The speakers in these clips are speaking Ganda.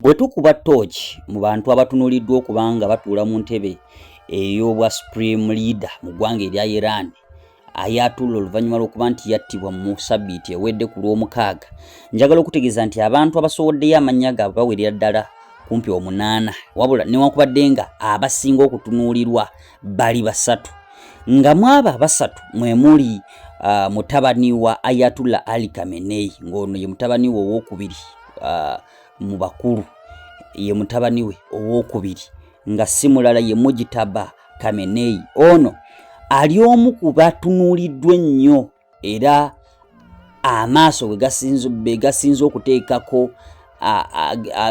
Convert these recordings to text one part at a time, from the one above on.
Bwe tukuba ttooki mu bantu abatunuliddwa okuba nga batuula mu ntebe ey'obwa supreme leader mu ggwanga erya Iran ayatulla oluvannyuma lw'okuba nti yattibwa mu sabbiiti ewedde ku lw'omukaaga njagala okutegeeza nti abantu abasowoddeyo amannya gaabwe bawerera ddala kumpi omunaana wabula newankubadde nga abasinga okutunuulirwa bali basatu nga mwabo abasatu mwe muli uh, mutabani wa ayatulla ali kamenei ng'ono ye mutabani we owokubiri uh, mu bakulu ye mutabani we owokubiri nga si mulala ye mujitaba kameneyi ono ali omu ku batunuuliddwa ennyo era amaaso be gasinze okuteekako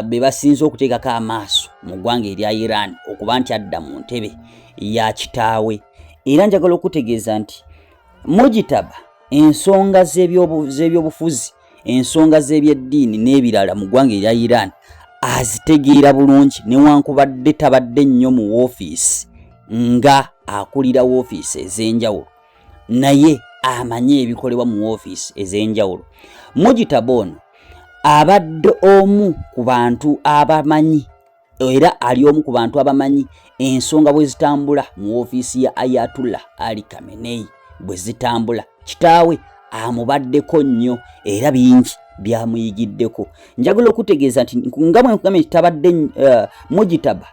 be basinze okuteekako amaaso mu ggwanga erya iran okuba nti adda mu ntebe ya kitaawe era njagala okutegeeza nti mujitaba ensonga z'ebyobufuzi ensonga z'ebyeddiini n'ebirala mu ggwanga erya iran azitegeera bulungi newankubadde tabadde nnyo mu woofiisi nga akulira woofiisi ez'enjawulo naye amanyi ebikolebwa mu woofiisi ez'enjawulo mujitaba ono abadde omu ku bantu abamanyi era ali omu ku bantu abamanyi ensonga bwe zitambula mu ofiisi ya ayatullah ali kamenei bwe zitambula kitaawe amubaddeko nnyo era bingi byamuyigiddeko njagala okutegeeza nti nga bwe nkugambye nti tabadde uh, mujitaba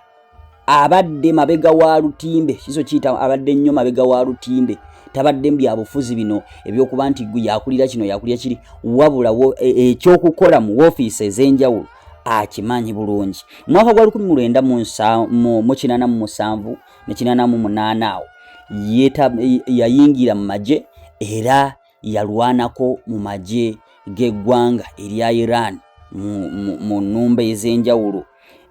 abadde mabega wa lutimbe kizo kiyita abadde nnyo mabega wa lutimbe tabadde mbyabufuzi bino ebyokuba nti yakulira kino yakulira kiri wabula e, e, ekyokukola mu ofiisi ez'enjawulo akimanyi bulungi mwaka gwa 1987 ne 88 awo yayingira mu magye era yalwanako mu magye g'eggwanga erya iran mu nnumba ez'enjawulo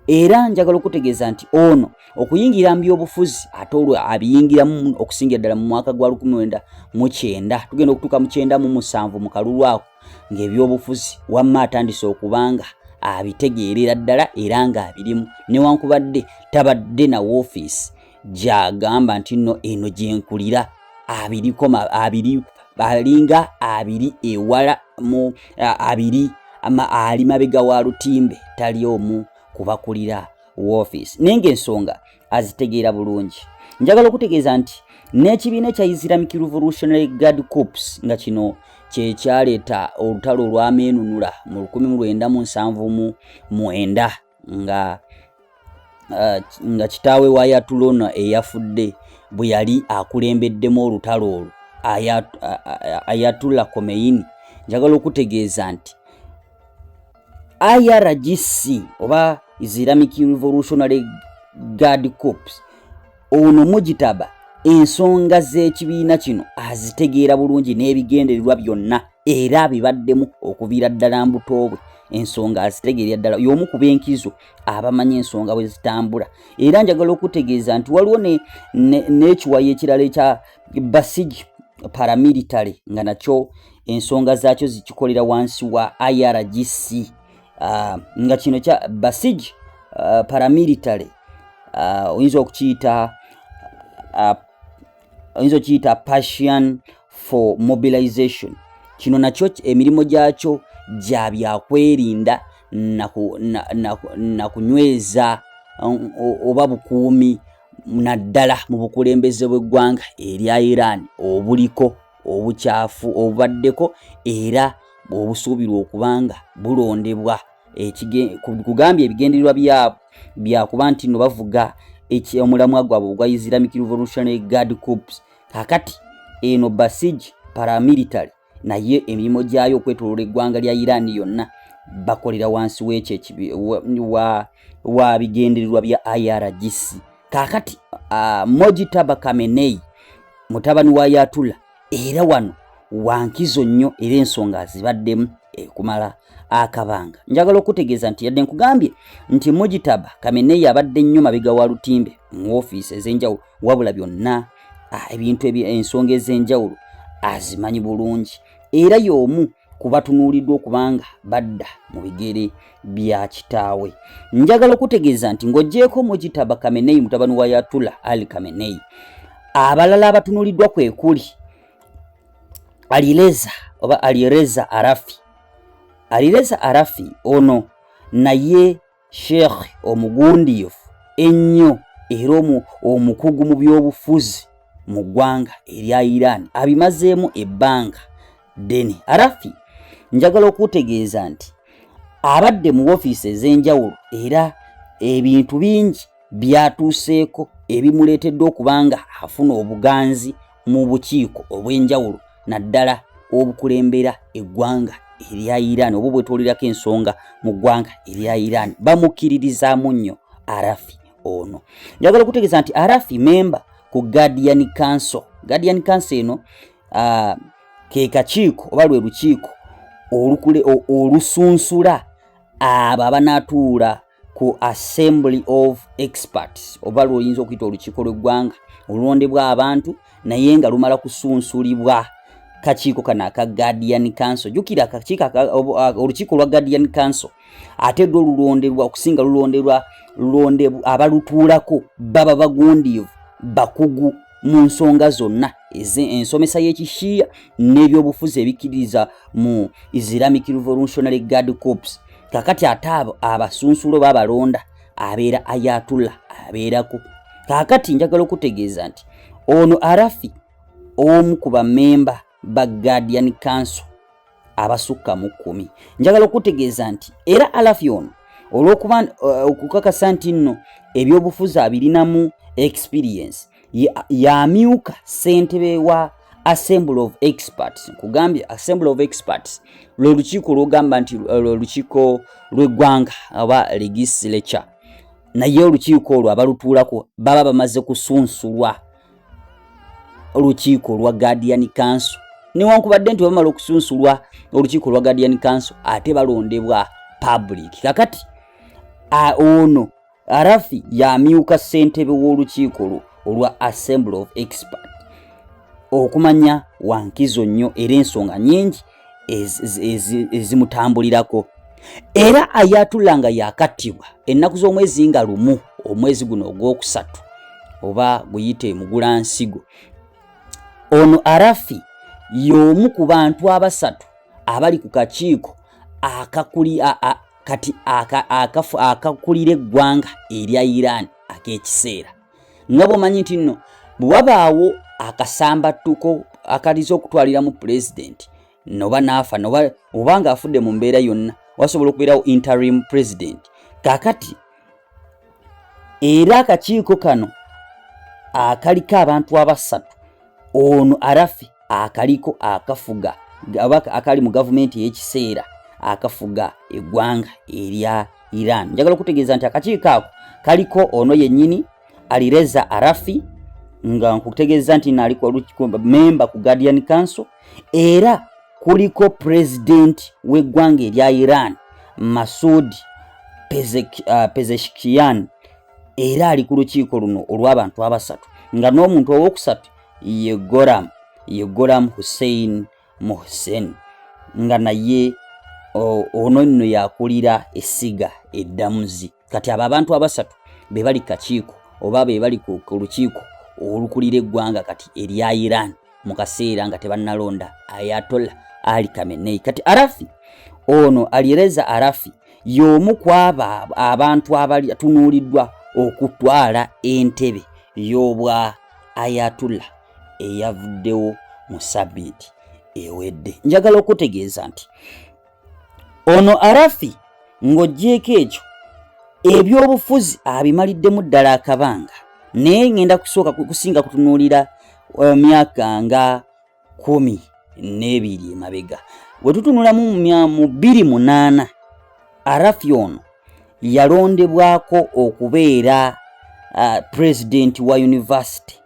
era njagala okutegeeza nti ono okuyingira mu byobufuzi ate olwo abiyingiramu okusingira ddala mu mwaka gwa 19 tugenda okutuuka mu 97 mu kalulu ako ng'ebyobufuzi wamma atandise okubanga abitegeerera ddala era ng'abirimu newankubadde tabadde na woofiisi gy'agamba nti nno eno gyenkulira abirikoma abiri alinga abiri ewala mu abiri ali mabega wa lutimbe tali omu kubakulira woofiisi naye ng'ensonga azitegeera bulungi njagala okutegeeza nti n'ekibiina ekya islamic revolutionary guard corps nga kino kyekyaleeta olutalo olwameenunula mu 1979 nga uh, nga kitaawe wa yatulona eyafudde bwe yali akulembeddemu olutalo olwo ayatula komeini njagala okutegeeza nti IRGC oba Islamic Revolutionary Guard Corps ono mujitaba ensonga z'ekibiina kino azitegeera bulungi n'ebigendererwa byonna era abibaddemu okuviira ddala mbuto bwe ensonga azitegeerera ddala y'omu ku b'enkizo abamanyi ensonga bwe zitambula era njagala okutegeeza nti waliwo n'ekiwayi ekirala ekya Basiji paramilitary nga nakyo ensonga zaakyo zikikolera wansi wa IRGC uh, nga kino kya Basij uh, paramilitary uh, oyinza okukiyita uh, oyinza okukiyita passion for mobilization kino nakyo emirimu gyakyo gya byakwerinda na kunyweza um, oba bukuumi naddala mu bukulembeze bw'eggwanga erya iran obuliko obukyafu obubaddeko era obusuubirwa okubanga bulondebwa kugambye ebigendererwa byabwe byakuba nti no bavuga omulamwa gwabwe ogwa islamic revolutionary guard corps kakati eno basij paramilitary naye emirimu gyayo okwetoloola eggwanga lya iran yonna bakolera wansi wekyo wa bigendererwa bya irgc kakati uh, moji taba kamenei mutabani wa yatula era wano wankizo nnyo era ensonga azibaddemu ekumala akabanga njagala okutegeeza nti yadde nkugambye nti mojitaba kamenei abadde nnyo mabega wa lutimbe mu ofiisi ez'enjawulo wabula byonna ebintu ensonga ez'enjawulo azimanyi bulungi era y'omu kubatunuuliddwa okubanga badda mu bigere bya kitaawe njagala okutegeeza nti ng'ogyeko mujitaba kameneyi mutabani wa yatula ali kameneyi abalala abatunuuliddwa kwe kuli alireza oba alireza arafi alireza arafi ono naye sheikh omugundiivu ennyo era omukugu mu byobufuzi mu ggwanga erya iran abimazeemu ebbanga ddene arafi njagala okutegeeza nti abadde mu ofiisi ez'enjawulo era ebintu bingi byatuuseeko ebimuleetedde okuba nga afuna obuganzi mu bukiiko obw'enjawulo naddala obukulembera eggwanga erya Iran oba bwetwolerako ensonga mu ggwanga erya Iran bamukkiririzaamu nnyo Arafi ono. Njagala okutegeeza nti Arafi memba ku Guardian Council. Guardian Council eno uh, ke kakiiko oba lwe lukiiko olusunsula abo abanaatuula ku assembly of experts oba lwoyinza okuyita olukiiko lweggwanga olulondebwa abantu naye nga lumala kusunsulibwa kakiiko kano aka guardian council jukira akakiiko olukiiko lwa guardian council ate dde olulonderwa okusinga lulonderwa lulonde abalutuulako baba bagundiivu bakugu mu nsonga zonna ensomesa y'ekishiya n'ebyobufuzi ebikkiririza mu islamic revolutionary guard corps kakati ate abo abasunsulo babalonda abeera ayatulla abeerako kakati njagala okutegeeza nti ono arafi omu ku bamemba ba guardian council abasukka mu kkumi njagala okutegeeza nti era alafi ono olwokuba uh, okukakasa nti nno ebyobufuzi abirinamu experience yamyuka ya ssentebe wa assembly of experts nkugambye assembly of experts lwe lukiiko lwogamba nti uh, lwe lukiiko lw'eggwanga aba legislature naye olukiiko olwo abalutuulako baba bamaze kusunsulwa olukiiko lwa guardian council newankubadde nti bamala okusunsulwa olukiiko lwa guardian council ate balondebwa public kakati ono arafi yamyuka ssentebe w'olukiiko lwo olwa assembly of expert okumanya wankizo nnyo era ensonga nyingi ezimutambulirako era ayatula nga yakattibwa ennaku z'omwezi nga lumu omwezi guno ogwokusatu oba guyite mugula nsigo ono arafi y'omu ku bantu abasatu abali ku kakiiko akakuli kati akakulira eggwanga erya iran ak'ekiseera nga bwomanyi nti nno bwe wabaawo akasambattuko akaliza okutwaliramu pulezidenti noba naafa noba oba nga afudde mu mbeera yonna wasobola okubeerawo interim president kakati era akakiiko kano akaliko abantu abasatu ono arafi akaliko akafuga oba akali mu gavumenti ey'ekiseera akafuga eggwanga erya iran njagala okutegeeza nti akakiiko ako kaliko ono yennyini alireza arafi nga nkutegeeza nti naaliko memba ku guardian council era kuliko pulezidenti w'eggwanga erya iran masud uh, pezeshkian era ali ku lukiiko luno olw'abantu abasatu nga n'omuntu ow'okusatu ye goram ye goram hussein muhsen nga naye ono nno yakulira essiga eddamuzi kati abo abantu abasatu be bali kakiiko oba be bali ku lukiiko olukulira eggwanga kati erya iran mu kaseera nga tebannalonda ayatola ali kamenei kati arafi ono alireza arafi y'omu ku abo abantu abali atunuuliddwa okutwala entebe y'obwa ayatullah eyavuddewo mu sabiiti ewedde njagala okutegeeza nti ono arafi ng'ogyeko ekyo ebyobufuzi abimaliddemu ddala akabanga naye ŋenda kusooka kusinga kutunuulira eh, myaka nga kumi n'ebiri emabega bwe tutunulamu mu bbiri munaana arafi ono yalondebwako okubeera uh, pulezidenti wa yunivasite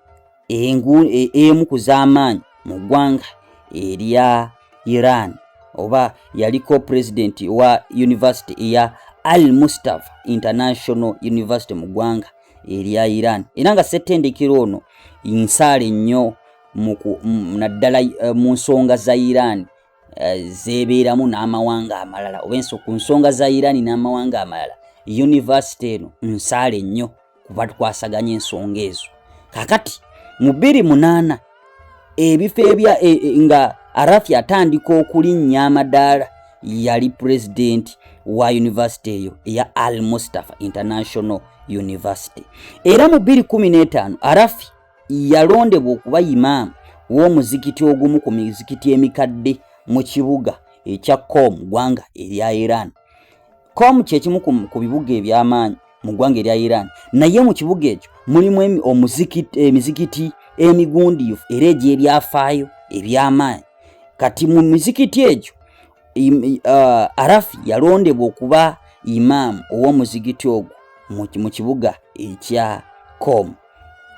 e, emu ku z'amaanyi mu ggwanga erya iran oba yaliko pulezidenti wa yunivasite eya al mustafa international university mu ggwanga erya iran era nga ssettendekero ono nsaale nnyo naddala eh, mu nsonga za iran eh, zebeeramu n'amawanga amalala oba enso ku nsonga za iran n'amawanga amalala yunivasite eno nsaale nnyo kuba tukwasaganya ensonga ezo kakati mu bbiri munaana ebifo ebya e, e, nga arafi atandika okulinnya amadaala yali pulezidenti wa yunivasite eyo eya al mustafa international university era mu 215 arafi Yalondebwa okuba Imam w'omuzikiti ogumu ku mizikiti emikadde mu kibuga ekya Qom ggwanga erya Iran. Qom kye kimu ku bibuga eby'amaanyi mu ggwanga erya Iran, naye mu kibuga ekyo mulimu emizikiti emigundiivu era egy'ebyafaayo eby'amaanyi. Kati mu mizikiti egyo uh, arafi yalondebwa okuba imaamu ow'omuzigiti ogwo mu kibuga ekya com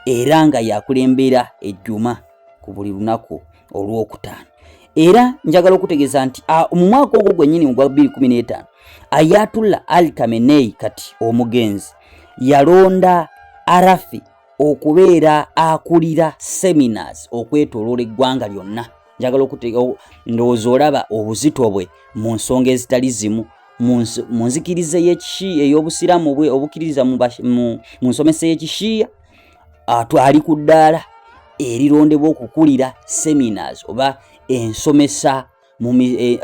era nga yakulembera ejjuma ku buli lunaku olwokutaano era njagala okutegeeza nti mu mwaka ogwo gwennyini ogwa 215 ayatullah al kamenei kati omugenzi yalonda arafi okubeera akulira seminars okwetoloola eggwanga lyonna njagala okuteeka ndowooza olaba obuzito bwe mu nsonga ezitali zimu mu nzikiriza eyekishiya ey'obusiraamu bwe obukkiririza mu nsomesa eyekishiya ali ku ddaala erirondebwa okukulira seminars oba ensomesa e,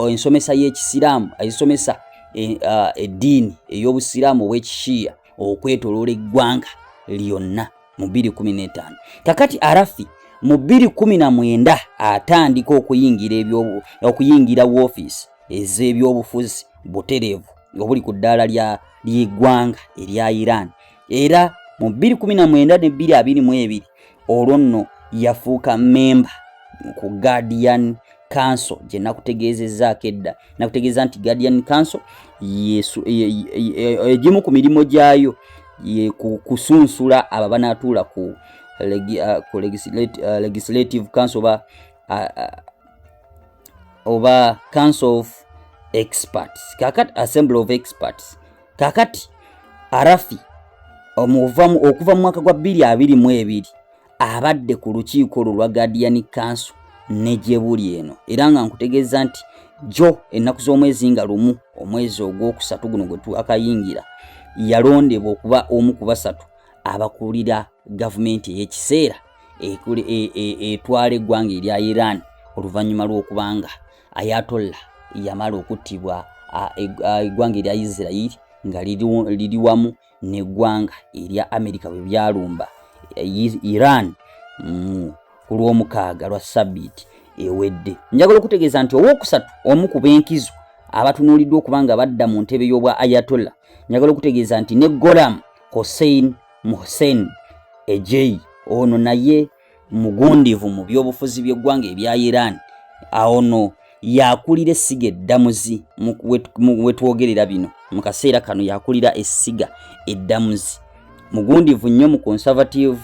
ensomesa y'ekisiraamu ezisomesa e, eddiini ey'obusiraamu ow'ekishiya okwetoloola eggwanga lyonna mu 215 kakati arafi mu 219 atandika okuyingira okuyingira woofiisi ez'ebyobufuzi butereevu obuli ku ddaala ly'eggwanga erya iran era mu 219 ne 222 olwo nno yafuuka memba ku guardian council gye nakutegeezezaako edda nakutegeeza nti guardian council egimu ku mirimu gyayo kusunsula abo abanaatuula ku uh, uh, legislative council oba uh, oba council of experts kakat assembly of experts kakati arafi omuvamu okuva mu mwaka gwa bbiri abiri mu ebiri abadde ku lukiiko olwo lwa guardian council ne gye buli eno era nga nkutegeeza nti jo ennaku z'omwezi nga lumu omwezi ogwokusatu guno gwe twakayingira yalondebwa okuba omu ku basatu abakulira gavumenti ey'ekiseera e, e, etwala eggwanga erya iran oluvannyuma lw'okubanga ayatolla yamala okuttibwa eggwanga erya isirairi nga liri wamu neggwanga erya amerika bwe byalumba iran mm, ku lwomukaaga lwa sabiiti ewedde njagala okutegeeza nti owokusatu omu ku benkizo abatunuuliddwa okuba nga badda mu ntebe y'obwa ayatolla njagala okutegeeza nti ne golam hossein muhussein ejei ono naye mugundivu mu byobufuzi by'eggwanga ebya iran awo no yakulira essiga eddamuzi wetwogerera bino mu kaseera kano yakulira essiga eddamuzi mugundivu nnyo mu conservative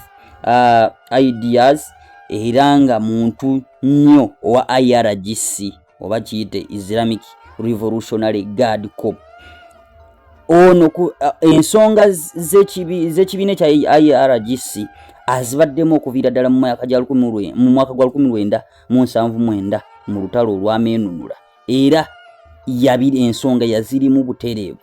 uh, ideas era nga muntu nnyo owa irgc oba kiyite islamic revolutionary guard cop ono ku ensonga z'ekibiina ekya irgc azibaddemu okuviira ddala mu mwaka gwa 1979 mu lutalo olwameenunula era yabira ensonga yazirimu butereevu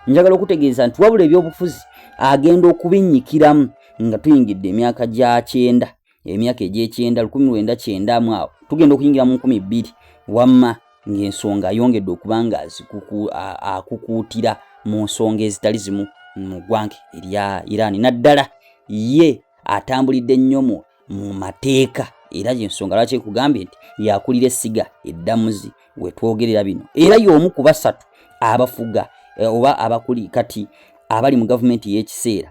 njagala okutegeeza nti wabula ebyobufuzi agenda okubinnyikiramu nga tuyingidde emyaka gya kyenda emyaka egy'ekyenda lukumi lwenda kyenda mu awo tugenda okuyingira mu nkumi bbiri wamma ng'ensonga ayongedde okuba nga akukuutira mu nsonga ezitali zimu mu ggwanga erya iraani naddala ye atambulidde nnyo mu mateeka era yensonga lwaki ekugambye nti yakulira essiga eddamuzi wetwogerera bino era y'omu ku basatu abafuga eh, oba abakuli kati abali mu gavumenti ey'ekiseera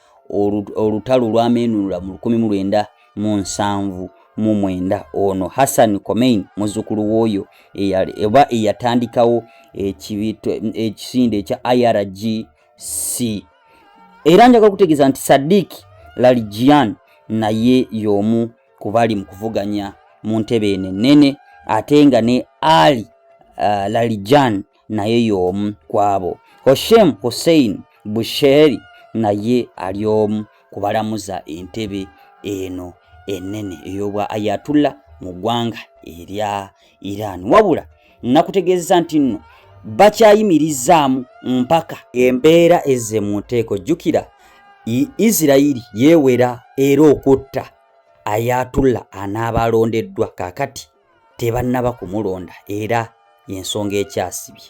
olutalo lwamenunula mu 1979 ono hassan comain muzukulu wooyo oba eyatandikawo ekisinde ekya irgc era njagala okutegeeza nti sadik lalijian naye yomu kubali mu kuvuganya mu ntebe eno ennene ate nga ne ali uh, lalijan naye y'omu kwabo. Hoshem Hussein Busheri naye ali omu ku balamuza entebe eno enene ey'obwa Ayatullah mu ggwanga erya Iran. Wabula nakutegeeza nti nno bakyayimirizaamu mpaka embeera ezze mu nteeko. Jjukira Isirayiri yeewera era okutta Ayatullah anaabalondeddwa kaakati. tebannaba kumulonda era y'ensonga ekyasibye.